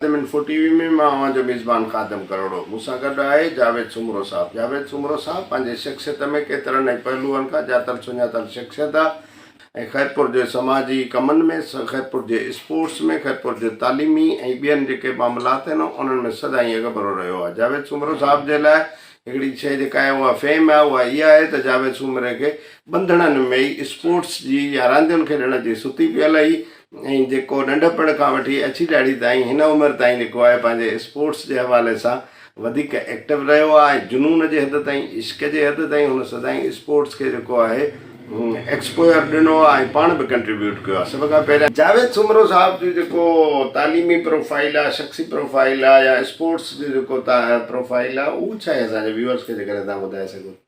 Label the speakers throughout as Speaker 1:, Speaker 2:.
Speaker 1: Sindh info T V ۾ مان اوهان جو ميزبان خادم ڪروڙو مون سان گڏ آهي جاويد سومرو صاحب جاويد سومرو صاحب پنهنجي شخصيت ۾ ڪيترن ئي پهلوئن کان ڄاتل سڃاتل شخصيت آ ۽ خيرپور جي سماجي ڪمن ۾ خيرپور جي اسپورٽس ۾ خيرپور جي تعليمي ۽ ٻين جيڪي معاملات آهن انهن ۾ سدائين اڳڀرو رهيو آ جاويد سومرو صاحب جي لاء هڪڙي شئي جيڪا آهي اها فيم آهي اها اها آهي ته جاويد سومري کي ٻنڌڻن ۾ ئي اسپورٽس جي يا راندين کيڏڻ جي ستي پيل هئي ۽ جيڪو ننڍپڻ کان وٺي اڇي ڏاڙهي تائين هن عمر تائين لکو آهي پنهنجي اسپورٽس جي حوالي سان وڌيڪ ايڪٽو رهيو آهي ۽ جنون جي حد تائين عشق جي حد تائين هن سدائين اسپورٽس کي جيڪو آهي ايڪسپوئر ڏنو آهي ۽ پاڻ به ڪنٽريبيوٽ ڪيو آهي سڀ کان پهريان جاويد سومرو صاحب جو جيڪو تعليمي پروفائيل آهي شخصي پروفائيل آهي يا اسپورٽس جو جيڪو پروفائيل آهي اهو ڇا آهي اسان جي ويورس کي جيڪڏهن توهان ٻڌائي سگهو ته.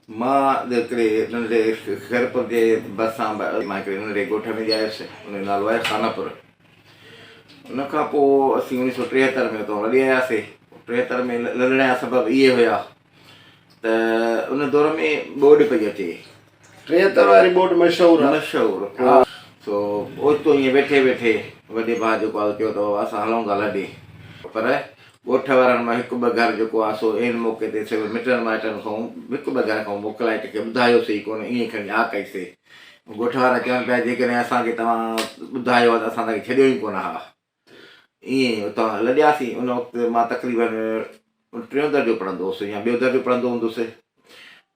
Speaker 2: مان هڪڙي ننڍڙي خيرپور جي ڀرسان مان هڪڙي ننڍڙي ڳوٺ ۾ ڄايس ان جو نالو آهي خانپور ان کان پوء اسين اوڻيھ سؤ ٽيهتر ۾ اتان لڏي آياسي ٽيهتر ۾ لڏڻ جا سبب اهي هيا ته ان دور ۾ ٻوڏ پئي اچي ٽين تر
Speaker 1: واري ٻوڏ مشهور آ. مشهور ها.
Speaker 2: سو اوچتو ائين ويٺي ويٺي وڏي ڀاء جيڪو آ سو چيو ته بابا اسان هلون ٿا لڏي. پر ڳوٺ وارن مان هڪ ٻه گهر جيڪو آ سو عين موقعي تي سڀ مٽن مائٽن کانئون هڪ ٻه گهر کانئون موڪلائي ڪنهن کي ٻڌايو سي ئي ڪونه ائين کڻي آ ڪئي سي. ڳوٺ وارا چون پيا جيڪڏهن اسان کي توهان ٻڌايو آ ته اسان توهان کي ڇڏيو ئي ڪونه ها. ائين اتان لڏياسين. ان وقت مان تقريبن ٽيون درجو پڙهندو هوس يا ٻيو درجو پڙهندو هوندس.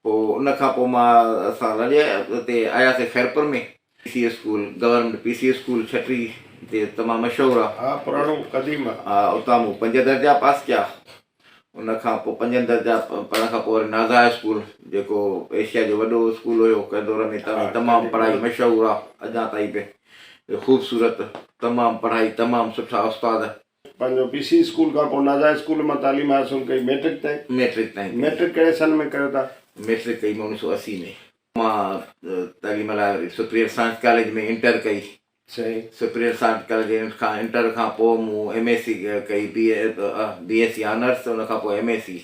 Speaker 2: پوء ان کان پوء مان اسان لڏي اتي آياسين Khairpur ۾. P C A school, government P C A school ڇٽري جي تمام مشهور آ. ها پراڻو قديم
Speaker 1: آ. ها اتان مون پنج
Speaker 2: درجا پاس ڪيا. ان کان پوء پنجن درجا پڙهڻ کان پوء وري نازا هاء اسڪول جيڪو ايشيا جو وڏو اسڪول هيو ڪنهن دور ۾ تنهن ۾ تمام پڙهائي مشهور آ اڃا تائين به خوبصورت تمام پڙهائي تمام سٺا استاد. پنهنجو پي سي
Speaker 1: اسڪول کان پوء نازا هاء اسڪول مان تعليم حاصل ڪئي ميٽرڪ تائين. ميٽرڪ تائين ڪئي. ميٽرڪ ڪهڙي سن ۾ ڪيو تان؟ ميٽرڪ ڪئي مون اڻيهه سؤ
Speaker 2: اسي ۾. مان تعليم لاء وري سپريئر سائنس ڪاليج ۾ انٽر ڪئي سي. سپريم
Speaker 1: سائنس ڪاليج کان
Speaker 2: انٽر کان پوء مون ايم ايس سي ڪئي، B A B S C honours ان کان پوء ايم ايس سي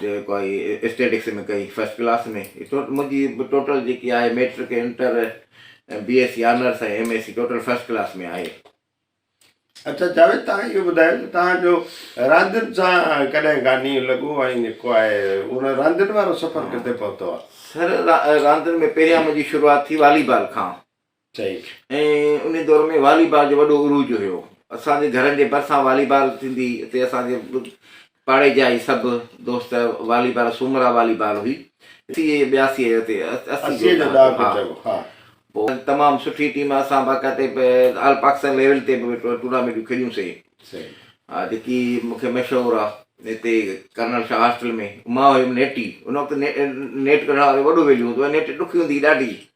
Speaker 2: جيڪو آهي اسٽيٽڪس ۾ ڪئي فرسٽ ڪلاس ۾ منهنجي ٽوٽل جيڪي آهي matric inter B S C honours ۽ M S C total first class ۾ آهي.
Speaker 1: اچا جاويد تهان اهو ٻڌايو ته تهان جو راندين سان ڪڏهن کان نينهن لڳو ۽ جيڪو آهي ان راندين وارو سفر ڪٿي پهتو آهي؟ سر راندين
Speaker 2: ۾ پهريان منهنجي شروعات ٿي والي بال کان چئي.
Speaker 1: ۽ انهي
Speaker 2: دور ۾ والي بال جو وڏو عروج هيو. اسان جي گهرن جي ڀرسان والي بال ٿيندي هئي. اتي اسان جي پاڙي جا ئي سڀ دوست والي بال سومرا والي بال هئي. اسي ۽ ٻياسي ۽ اتي اسي جو ڏهاڪو چئبو ها. پوء تمام سٺي ٽيم اسان باقاعدي آل پاڪستان ليول تي به ٽورنامينٽون کيڏيون سي. صحيح. ها جيڪي مون کي مشهور آ هتي ڪرنل شاهه هاسٽل ۾ مان هيم نيٽي ان وقت نيٽ ڪڍڻ وارو وڏو ويليو هوندو هو نيٽ ڏکي هوندي هئي ڏاڍي.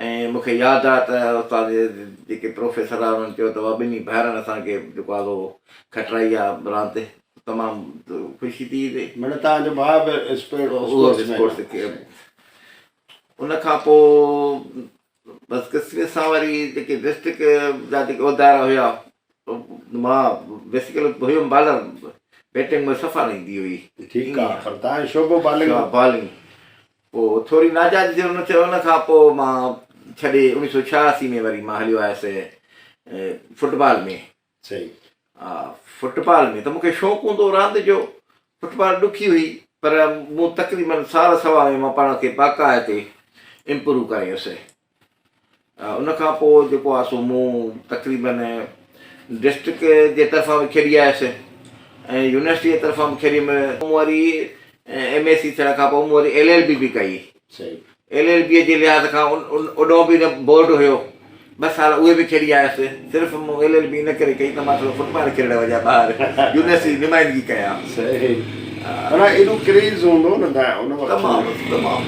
Speaker 2: ۽ مون کي ياد آهي ته استاد جيڪي پروفيسر آهي انهن چيو ته واهه ٻنهي ڀائرن اسان کي جيڪو آهي سو کٽرائي آهي راند تمام خوشي ٿي ٿي مڙي توهان جو ڀاء
Speaker 1: به اسپورٽس
Speaker 2: ان کان پو بس قسمت سان وري جيڪي ڊسٽرڪ جا جيڪي عہدائرا هيا مان بيسيڪل هيم بالر بيٽنگ ۾ صفا نه ايندي هئي ٺيڪ آهي پر توهان
Speaker 1: جو شعبو بالنگ بالنگ
Speaker 2: پوء ٿوري ناجائز جيئن هن چيو ان کان پوء مان ڇڏي اوڻيهه سؤ ڇهاسي ۾ وري مان هليو آيس فٽ بال ۾ صحيح
Speaker 1: ها
Speaker 2: فٽ بال ۾ ته مونکي شوق هوندو راند جو فٽ بال ڏکي هئي پر مون تقريبن سال سوا ۾ مان پاڻ کي باقاعدي امپروو ڪريس ان کان پوء جيڪو آهي سو مون تقريبن ڊسٽرڪٽ جي طرفان به کيڏي آيس ۽ يونيورسٽيء جي طرفان به کيڏيم. مون وري ايم اي سي ٿيڻ کان پوء مون وري ايل ايل بي به ڪئي. ايل ايل بيء جي لحاظ کان اڏهون به نه بورڊ هيو، ٻه سال اهي به کيڏي آيس. صرف مون ايل ايل بي ان ڪري ڪئي ته مان ٿورو فٽبال کيڏڻ وڃان ٻاهر يونيورسٽي جي نمائندگي ڪيان. صحيح
Speaker 1: معنيٰ ايڏو ڪريز هوندو نه ته ان وقت تمام تمام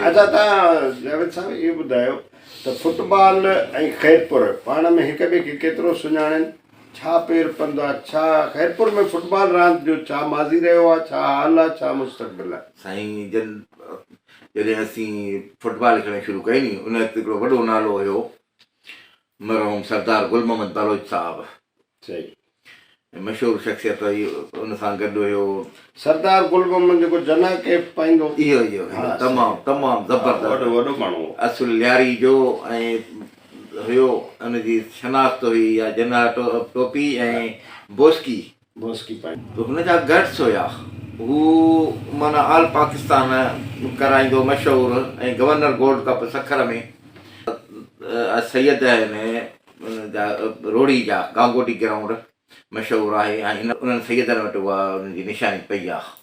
Speaker 1: اچا تان جاويد صاحب اهو ٻڌايو ته فٽبال ۽ خيرپور پاڻ ۾ هڪ ٻئي کي ڪيترو سڃاڻين ڇا پير پنڌ آ ڇا خيرپور ۾ فٽبال راند جو ڇا ماضي رهيو آ
Speaker 2: ڇا
Speaker 1: حال آ ڇا مستقبل آ. سائين
Speaker 2: جن
Speaker 1: جڏهن
Speaker 2: اسين فٽبال کيڏڻ شروع ڪئي ني ان وقت هڪڙو وڏو نالو هيو مرحوم سردار گل محمد بلوچ صاحب صحيح.
Speaker 1: مشهور
Speaker 2: شخصيت هئي ان سان گڏ هيو. سردار گل
Speaker 1: محمد جيڪو جناح ڪيپ پائيندو. اهو اهو اهو ها تمام
Speaker 2: صحيح. تمام ها زبردست وڏو وڏو ماڻهو هو. اصل
Speaker 1: لياري جو
Speaker 2: ۽ هيو ان جي شناخت هئي يا جناح ٽوپي ۽ بوسڪي. موسيقي پائي.
Speaker 1: هن جا گٽس
Speaker 2: هيا. هو معنيٰ آل پاڪستان ڪرائيندو مشهور ۽ governor gold cup Sukkur ۾ Syed ۽ ان جا روهڙي جا گانگوٽي گرائونڊ مشهور آهي ۽ هن انهن سيدن وٽ اها ان جي نشاني پئي آهي.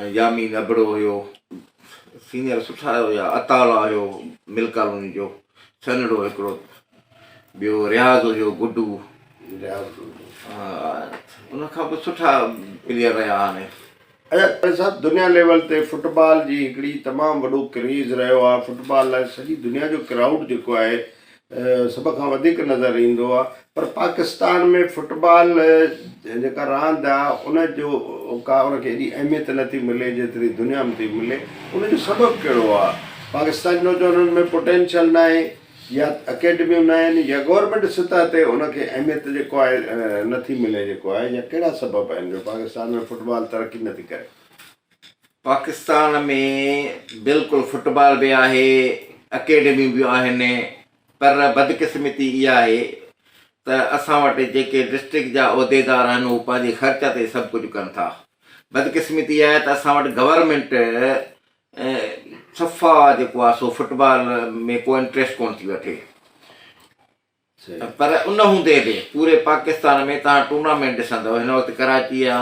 Speaker 2: ۽ يامين ابڙو هيو. سينئر سٺا هيا اطالع هيو مل ڪالوني جو سنهڙو هڪڙو ٻيو رياض هيو گڊو ان کان به سٺا پليئر رهيا هاڻي. اچا ڪالي صاحب
Speaker 1: دنيا ليول تي فٽبال جي هڪڙي تمام وڏو ڪريز رهيو آهي فٽبال لاء سڄي دنيا جو ڪرائوڊ جيڪو آهي سڀ کان وڌيڪ نظر ايندو آهي پر پاڪستان ۾ فٽبال جيڪا راند آهي ان جو ڪا ان کي ايڏي اهميت نه ٿي ملي جيتري دنيا ۾ ٿي ملي ان جو سبب ڪهڙو آهي پاڪستان جي نوجوانن ۾ پوٽينشل نه آهي يا اڪيڊميون نه آهن يا گورمينٽ سطح تي ان کي اهميت جيڪو آهي نه ٿي ملي جيڪو آهي يا ڪهڙا سبب آهن جو پاڪستان ۾ فٽبال ترقي نه ٿي ڪري
Speaker 2: پاڪستان ۾ بلڪل فٽبال به آهي، اڪيڊميون به آهن پر بدقسمتي اها آهي ته اسان وٽ جيڪي ڊسٽرڪٽ جا عهديدار آهن اهي پنهنجي خرچ تي سڀ ڪجهه ڪن ٿا. بدقسمتي اها آهي ته اسان وٽ گورنمينٽ صفا جيڪو آهي سو فٽبال ۾ ڪو انٽريسٽ ڪونه ٿي وٺي. پر ان هوندي به پوري پاڪستان ۾ توهان ٽورنامينٽ ڏسندؤ هن وقت ڪراچي يا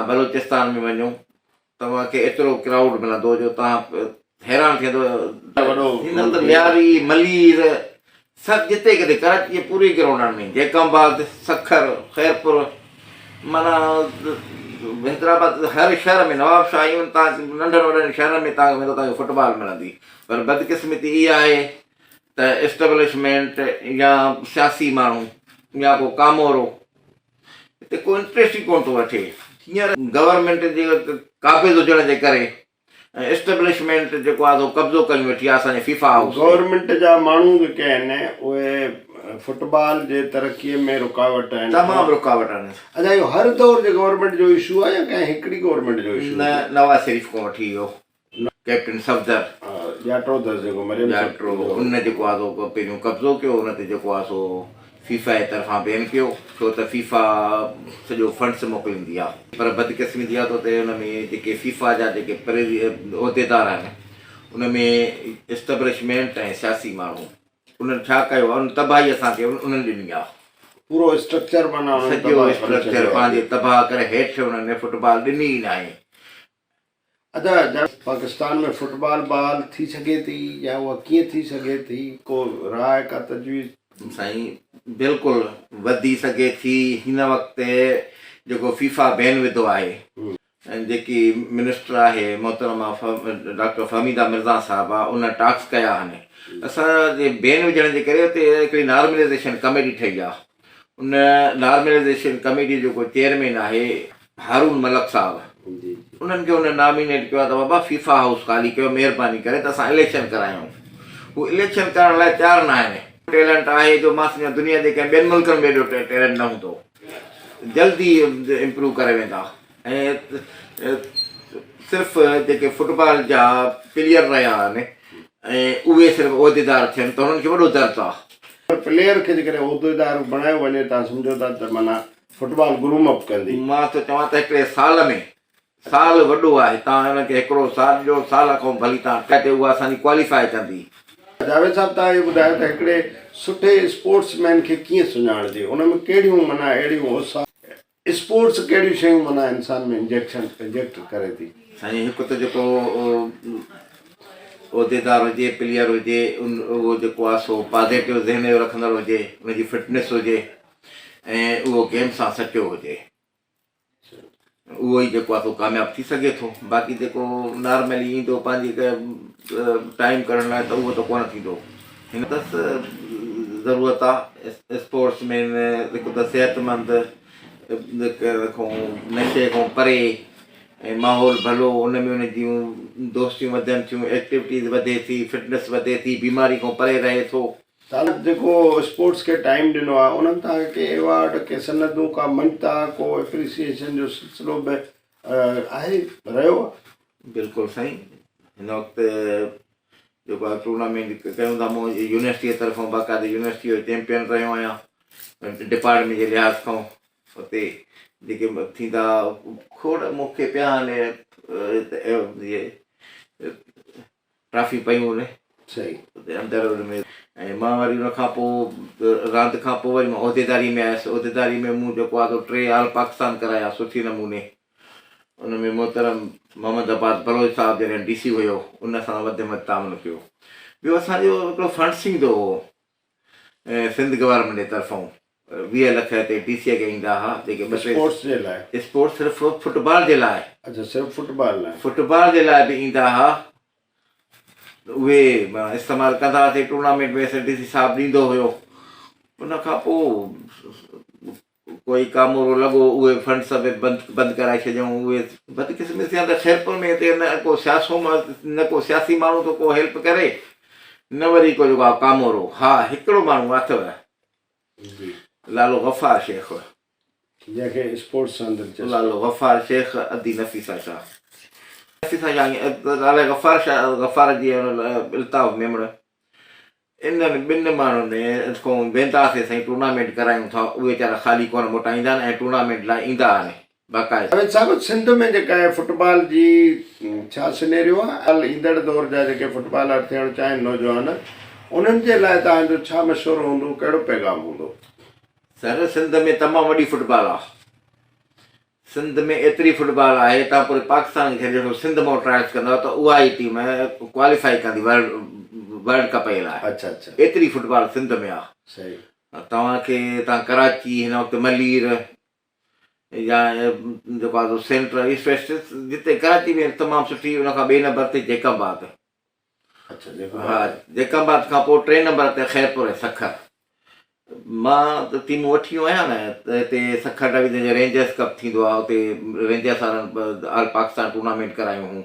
Speaker 2: بلوچستان ۾ وڃو توهان کي ايترو ڪرائوڊ ملندو جو توهان حيران ٿيندؤ هينئر ته مياري ملير سڀ جتي ڪٿي ڪراچي جي پوري گرائونڊن ۾ جيڪب آباد سکر خيرپور معنيٰ حيدرآباد هر شهر ۾ نواب شاهه ايون توهان ننڍن وڏن شهرن ۾ توهان کي ويندو توهان کي فٽبال ملندي پر بدقسمتي اها آهي ته اسٽبلشمينٽ يا سياسي ماڻهو يا ڪو ڪامورو هتي ڪو انٽريسٽ ئي ڪونه ٿو وٺي هينئر گورنمينٽ جي قابض هجڻ جي ڪري ۽ اسٽبلشمينٽ جيڪو آهي سو قبضو ڪري ويٺي آهي اسان جي فيفا هائوس تي. گورنمينٽ جا ماڻهو
Speaker 1: جيڪي آهن اهي فٽبال جي ترقي ۾ رڪاوٽ آهن. تمام رڪاوٽ آهن.
Speaker 2: اچا اهو هر دور
Speaker 1: جي گورنمينٽ جو اشو آهي يا ڪنهن هڪڙي گورنمينٽ جو اشو آهي؟ نه نواز شريف کان
Speaker 2: وٺي اهو ڪئپٽن صفدر ڄاٽو اٿس جيڪو
Speaker 1: مريم ڄاٽو ان
Speaker 2: جيڪو آ سو پهريون قبضو ڪيو ان تي جيڪو آ سو فيفا جي طرفان بين ڪيو ڇو ته فيفا سڄو فنڊس موڪليندي آ پر بدقسمتي جي آ سو ته ان ۾ جيڪي فيفا جا جيڪي عهديدار آهن ان ۾ اسٽبلشمينٽ ۽ سياسي ماڻهو انهن ڇا ڪيو آ ان تباهي اسان کي انهن ڏني آ پورو اسٽرڪچر
Speaker 1: معنيٰ سڄو اسٽرڪچر
Speaker 2: پنهنجي تباهه ڪري هيٺ انهن فٽبال ڏني ئي ناهي
Speaker 1: ادا جا پاڪستان ۾ فٽبال بحال ٿي سگهي ٿي يا اها ڪيئن ٿي سگهي ٿي ڪو راء ڪا تجويز. سائين
Speaker 2: بلڪل وڌي سگهي ٿي هن وقت جيڪو فيفا بين وڌو آهي جيڪي منسٽر آهي محترمه ڊاڪٽر فهميده مرزا صاحبه ان ٽاڪس ڪيا آهن اسان جي بين وجهڻ جي ڪري اتي هڪڙي نارمليزيشن ڪميٽي ٺهي آهي ان نارملائيزيشن ڪميٽي جو جيڪو چيئرمين آهي هارون ملڪ صاحب انهن کي هن نامينيٽ ڪيو آهي ته بابا فيفا هائوس خالي ڪيو مهرباني ڪري ته اسان اليڪشن ڪرايون هو اليڪشن ڪرڻ لاء تيار نه آهن ٽيلنٽ آهي جو مان سمجهان دنيا جي ڪنهن ٻين ملڪن ۾ ايڏو ٽيلنٽ نه هوندو جلدي امپروو ڪري ويندا ۽ صرف جيڪي فٽبال جا پليئر رهيا آهن ۽ اهي صرف عهديدار ٿين ته هنن کي وڏو درد آهي. پر پليئر کي جيڪڏهن عهديدار بڻايو وڃي تان سمجهو ٿا ته معنيٰ فٽبال گروم اپ ڪندي. مان ٿو چوان ته هڪڙي سال ۾ سال وڏو آهي تان هنن کي هڪڙو سال ڏيو سال کان ڀلي تان ٽي تي اها اسان جي ڪواليفاء ڪندي. جاويد صاحب تان اهي ٻڌايو ته هڪڙي سٺي اسپورٽس مين کي ڪيئن سڃاڻجي ان ۾ ڪهڙيون معنيٰ اهڙيون اوصاف. اسپورٽس ڪهڙيون شيون معنيٰ انسان ۾ انجيڪشن انجيڪٽ ڪري ٿي؟ سائين هڪ ته جيڪو عهديدار هجي پليئر هجي ان اهو جيڪو آهي سو پازيٽو ذهن جو رکندڙ هجي ان جي فٽنس هجي ۽ اهو گيم سان سچو هجي اهو ئي جيڪو آهي سو ڪامياب ٿي سگهي ٿو باقي جيڪو نارملي ايندو پنهنجي ٽائيم ڪڍڻ لاء ته اهو ته ڪونه ٿيندو هن تس ضرورت آ اسپورٽس مين هڪ ته صحت مند کون نشي کون پري ۽ ماحول ڀلو ان ۾ ان جون دوستيون وڌن ٿيون ايڪٽيوٽيز وڌي ٿي فٽنس وڌي ٿي بيماري کون پري رهي ٿو. تعلق جيڪو
Speaker 1: اسپورٽس کي ٽائيم ڏنو آ انهن تان ڪي ايوارڊ ڪي سندون ڪا مڃتا ڪو ايپريسيئيشن جو سلسلو به آهي رهيو آ. بلڪل سائين
Speaker 2: هن وقت جيڪو آء ٽورنامينٽ ڪيون ٿا مون يونيورسٽيء طرفان باقاعده يونيورسٽيء جو چيمپيئن رهيو آهيان ڊپارٽمينٽ جي لحاظ کان اتي جيڪي ٿيندا کوڙ مونکي پيا هاڻي ٽرافي پيون هن صحيح اندر
Speaker 1: ان ۾
Speaker 2: ۽ مان وري ان کان پوء راند کان پوء وري مان عهديداري ۾ آيس عهديداري ۾ مون جيڪو آهي سو ٽي آل پاڪستان ڪرايا سٺي نموني ان ۾ محترم محمد عباس بلوچ صاحب جڏهن ڊي سي هيو ان سان وڌ ۾ وڌ تعاون ڪيو. ٻيو اسان جو هڪڙو فنڊ ٿيندو هو سنڌ گورنمينٽ جي طرفون ويهه لک هتي ڊي سي کي ايندا ها جيڪي ٻه ٽي اسپورٽس جي لاء
Speaker 1: اسپورٽس صرف فٽ
Speaker 2: بال جي لاء اچھا صرف فٽ بال
Speaker 1: لاء فٽ بال جي لاء به ايندا
Speaker 2: ها اهي استعمال ڪندا هاسي ٽورنامينٽ ۾ اسان ڊي سي صاحب ڏيندو هيو ان کان پوء ڪوئي ڪامورو لڳو اهي فنڊ سڀئي بند ڪرائي ڇڏيائون اهي بدقسمتي سان ته خيرپور ۾ هتي نه ڪو سياسو نه ڪو سياسي ماڻهو ته ڪو هيلپ ڪري نه وري ڪو جيڪو ڪامورو ها هڪڙو ماڻهو اٿو لالو غفار شيخ جنهن کي
Speaker 1: اسپورٽس سان دلچسپي لالو غفار شيخ
Speaker 2: ادي نفيسا شاهه نفيسا شاهه لالا غفار شاهه غفار جي الطاف ميمڻ انهن ٻن ماڻهن کون ويندا سي سائين ٽورنامينٽ ڪرايون ٿا اهي ويچارا خالي ڪونه موٽائيندا آهن ۽ ٽورنامينٽ لاء ايندا آهن باقاعده. جاويد صاحب سنڌ
Speaker 1: ۾ جيڪا هي فٽبال جي ڇا سنيريو آ ۽ ايندڙ دور جا جيڪي فٽبالر ٿيڻ چاهين نوجوان انهن جي لاء توهان جو ڇا مشورو هوندو ڪهڙو پيغام هوندو. سر
Speaker 2: سنڌ ۾ تمام وڏي فٽبال آ سنڌ ۾ ايتري فٽبال آهي توهان پوري پاڪستان کي ڇڏي ڏسو سنڌ مان ٽرائلس ڪندو ته اها ئي ٽيم ڪواليفائي ڪندي ورلڊ ڪپ اي لاء اڇا اڇا ايتري فٽبال
Speaker 1: سنڌ
Speaker 2: ۾ آهي صحيح
Speaker 1: توهان کي
Speaker 2: توهان ڪراچي هن وقت ملير يا جيڪو آهي سينٽر جتي ڪراچي ۾ تمام سٺي ان کان ٻئي نمبر تي جيڪب آهي ها
Speaker 1: جيڪب
Speaker 2: آباد کان پوء ٽئين نمبر تي خيرپور ۽ سکر. مان ته ٽيمون وٺي ويو آهيان نه ته هتي سکر ڊويزن جي رينجرز ڪپ ٿيندو آهي اتي رينجرز وارن آل پاڪستان ٽورنامينٽ ڪرايون هون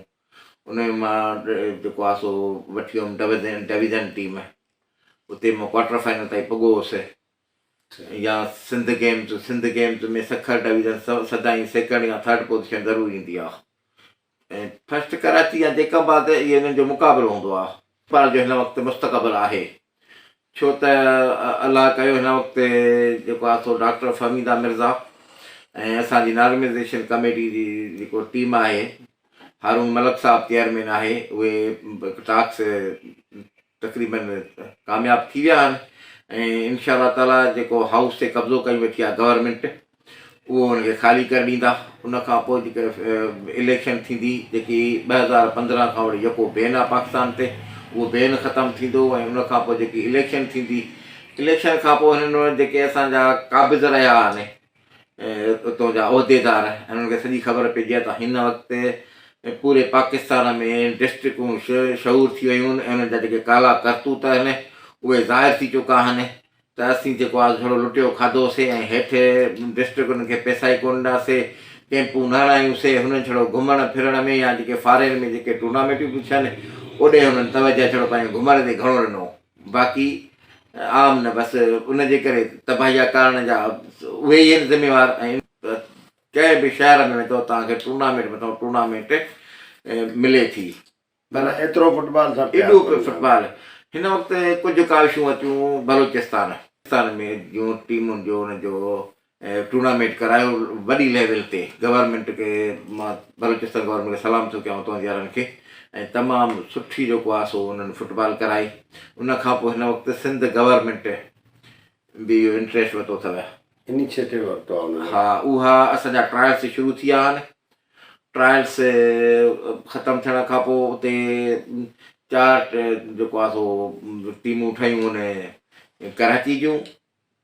Speaker 2: ان ۾ مان جيڪو آهي سو وٺي ويم ڊويزن ڊويزن ٽيم اتي مان ڪوارٽر فائنل تائين پڳو هوسي يا Sindh games Sindh games ۾ Sukkur division سدائين سيڪنڊ يا ٿرڊ پوزيشن ضرور ايندي آهي ۽ فرسٽ ڪراچي يا جيڪب آ تي اهي انهن جو مقابلو هوندو آ. پر جو هن وقت مستقبل آهي ڇو ته الله ڪيو هن وقت جيڪو آ سو ڊاڪٽر فهميده مرزا ۽ اسان جي نارمزيشن ڪميٽي جي جيڪو ٽيم آهي هارون ملڪ صاحب چيئرمين آهي اهي ٽاڪس تقريباً ڪامياب ٿي ويا آهن ۽ انشاء الله تعاليٰ جيڪو هائوس تي قبضو ڪري ويٺي آهي گورنمينٽ اهو ان کي خالي ڪري ڏيندا ان کان پوء جيڪي اليڪشن ٿيندي جيڪي ٻه هزار پندرهن کان وٺي يڪو بين آهي پاڪستان تي اهو بين ختم ٿيندو ۽ ان کان پوء جيڪي اليڪشن ٿيندي اليڪشن کان پوء هنن جيڪي اسان جا قابض رهيا آهن اتو جا عهديدار انهن کي سڄي خبر پئجي ها ته هن وقت پوري پاڪستان ۾ ڊسٽرڪون شعور ٿي ويون آهن ۽ انهن جا جيڪي ڪالا ڪرتوت آهن اهي ظاهر ٿي چڪا آهن ته اسين جيڪو آز جھڙو لٽيو کاڌوسي ۽ هيٺ ڊسٽرڪن کي پئسا ئي ڪونه ڏناسي ڪيمپون نه هڻايونسي هنن جھڙو گھمڻ ڦرڻ ۾ يا جيڪي فارين ۾ جيڪي ٽورنامينٽون پيون ٿين اوڏي هنن توجه جھڙو پنهنجي گھمڻ تي گھڻو ڏنو باقي عام نه بس ان جي ڪري تباهي جا ڪارڻ جا اهي ئي آهن ذميوار ۽ ڪنهن به شهر ۾ ويندو توهان کي ٽورنامينٽ مٿان ٽورنامينٽ ملي ٿي پر ايترو
Speaker 1: فٽبال سان پيار ايڏو ڪندا فٽبال
Speaker 2: هن وقت ڪجهه ڪاوشون اچون بلوچستان ستان ۾ جون ٽيمن جو ان جو ٽورنامينٽ ڪرايو وڏي ليول تي گورنمينٽ کي مان بلوچستان گورنمينٽ کي سلام ٿو ڪيان تون يارن کي ۽ تمام سٺي جيڪو آ سو انهن فٽبال ڪرائي ان کان پوء هن وقت سنڌ گورنمينٽ به اهو انٽريسٽ ورتو اٿو انيشيٽو ورتو
Speaker 1: آ انهن ها اها اسان
Speaker 2: جا ٽرائلس شروع ٿي ويا آهن ٽرائلس ختم ٿيڻ کان پوء اتي چار جيڪو آ سو ٽيمون ٺهيون ان ڪراچي جون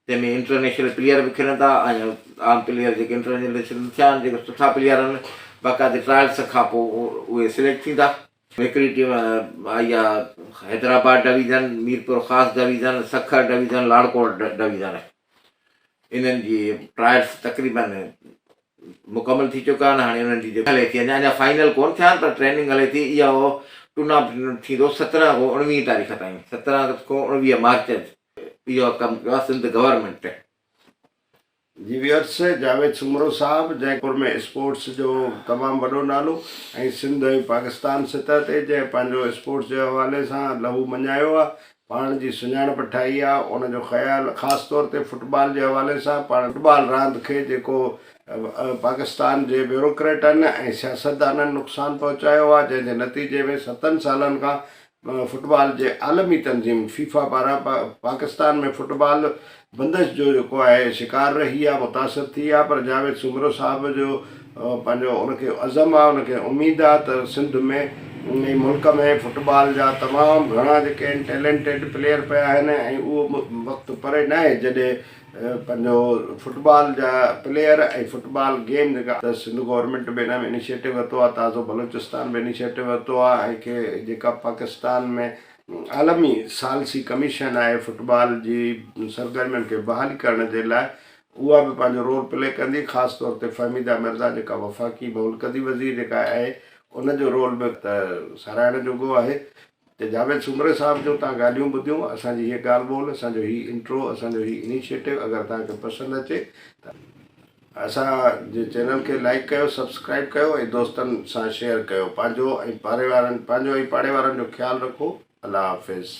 Speaker 2: تنهن ۾ انٽرنيشنل پليئر به کيڏن ٿا ۽ عام پليئر جيڪي انٽرنيشنل ٿيا آهن جيڪي سٺا پليئر آهن باقاعدي ٽرائلس کان پوء اهي سليڪٽ ٿيندا. هڪڙي ٽيم آئي آهي Hyderabad division, Mirpurkhas division, Sukkur division, لاڙڪوٽ ڊويزن انهن جي ٽرائلس تقريبن مڪمل ٿي چڪا آهن هاڻي انهن جي جيڪي هلي ٿي اڃا اڃا فائنل ڪونه ٿيا آهن پر ٽريننگ هلي ٿي اهو ٽورنامينٽ ٿيندو سترهن کان اوڻويهين تاريخ تائين سترهن کان اوڻويهه مارچ اهو ڪم ڪيو آهي سنڌ گورنمينٽ.
Speaker 1: جي ويورس جاويد سومرو صاحب جنهن دور ۾ اسپورٽس جو تمام وڏو نالو ۽ سنڌ ۽ پاڪستان سطح تي جنهن پنهنجو اسپورٽس جي حوالي سان لهو مڃايو آهي پاڻ جي سڃاڻپ ٺاهي آهي ان جو خيال خاص طور تي فٽبال جي حوالي سان پاڻ فٽبال راند کي جيڪو پاڪستان جي بيوروڪريٽن ۽ سياستدانن نقصان پهچايو آهي جنهن جي نتيجي ۾ ستن سالن کان فٽبال جي عالمي تنظيم فيفا پاران پاڪستان ۾ فٽبال بندش جو جيڪو آهي شڪار رهي آهي متاثر ٿي آهي پر جاويد سومرو صاحب جو پنهنجو ان کي عزم آهي ان کي اميد آهي ته سنڌ ۾ ۽ ملڪ ۾ فٽبال جا تمام گهڻا جيڪي آهن ٽيلينٽيڊ پليئر پيا آهن ۽ اهو وقت پري ناهي جڏهن پنهنجو فٽبال جا پليئر ۽ فٽبال گيم جيڪا ته سنڌ گورنمينٽ به ان ۾ انيشيٽو ورتو آهي تازو بلوچستان به انيشيٽو ورتو آهي ۽ ڪي جيڪا پاڪستان ۾ عالمي ثالثي ڪميشن آهي فٽبال جي سرگرمين کي بحال ڪرڻ جي لاء اها به پنهنجو رول پلي ڪندي خاص طور تي فهميده مرزا جيڪا وفاقي مولڪندي وزير جيڪا آهي ان جو رول به ته ساراهڻ جوڳو آهي ته جاويد سومري صاحب جو تان ڳالهيون ٻڌيون اسان جي هيء ڳالهه ٻولهه اسان جو هي انٽرو اسان جو هي انيشيٽو اگر توهان کي پسند اچي ته اسان جي چينل کي لائيڪ ڪيو سبسڪرائيب ڪيو ۽ دوستن سان شيئر ڪيو پنهنجو ۽ پاري وارن پنهنجو ۽ پاڙي وارن جو خيال رکو الله حافظ.